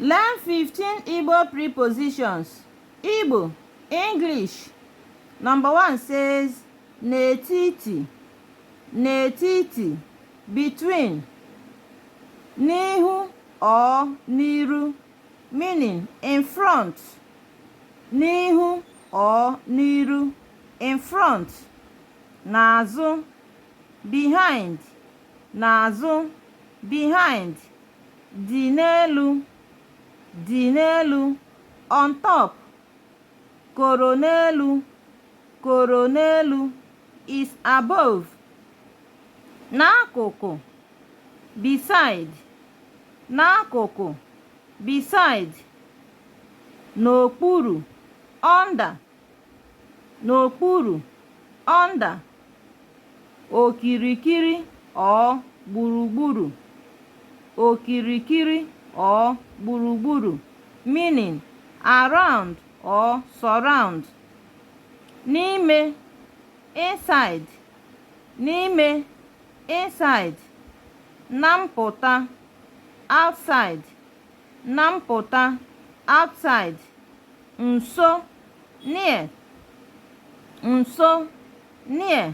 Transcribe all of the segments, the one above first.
Learn 15 Igbo prepositions. Igbo, English. Number one says n'etiti, n'etiti, between, n'ihu or n'iru, meaning in front, n'ihu or n'iru, in front, n'azụ, behind. N'azụ, behind, dị n'elu, dị n'elu, on top, koro n'elu, koro n'elu, is above, n'akụkụ, beside, n'akụkụ, beside, n'okpuru, under, n'okpuru, under, okirikiri or gburugburu, okirikiri or gburugburu, meaning around or surround, n'ime, inside, n'ime, inside, na mpụta, outside, Na mpụta, outside, nso, near, nso, near,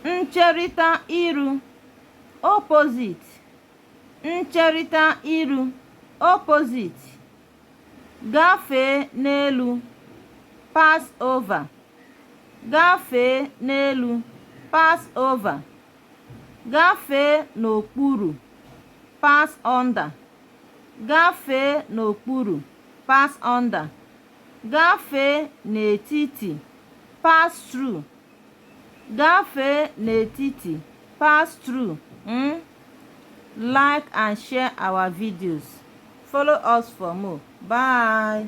ncherịta iru, opposite, ncherịta iru, opposite, gafee n'elu, pass over, gafee n'elu, pass over. Gafee n'okpuru, pass under. Gafee n'okpuru, pass under. Gafee n'etiti, pass through. Gafee n'etiti, pass through. Mm? Like and share our videos. Follow us for more. Bye.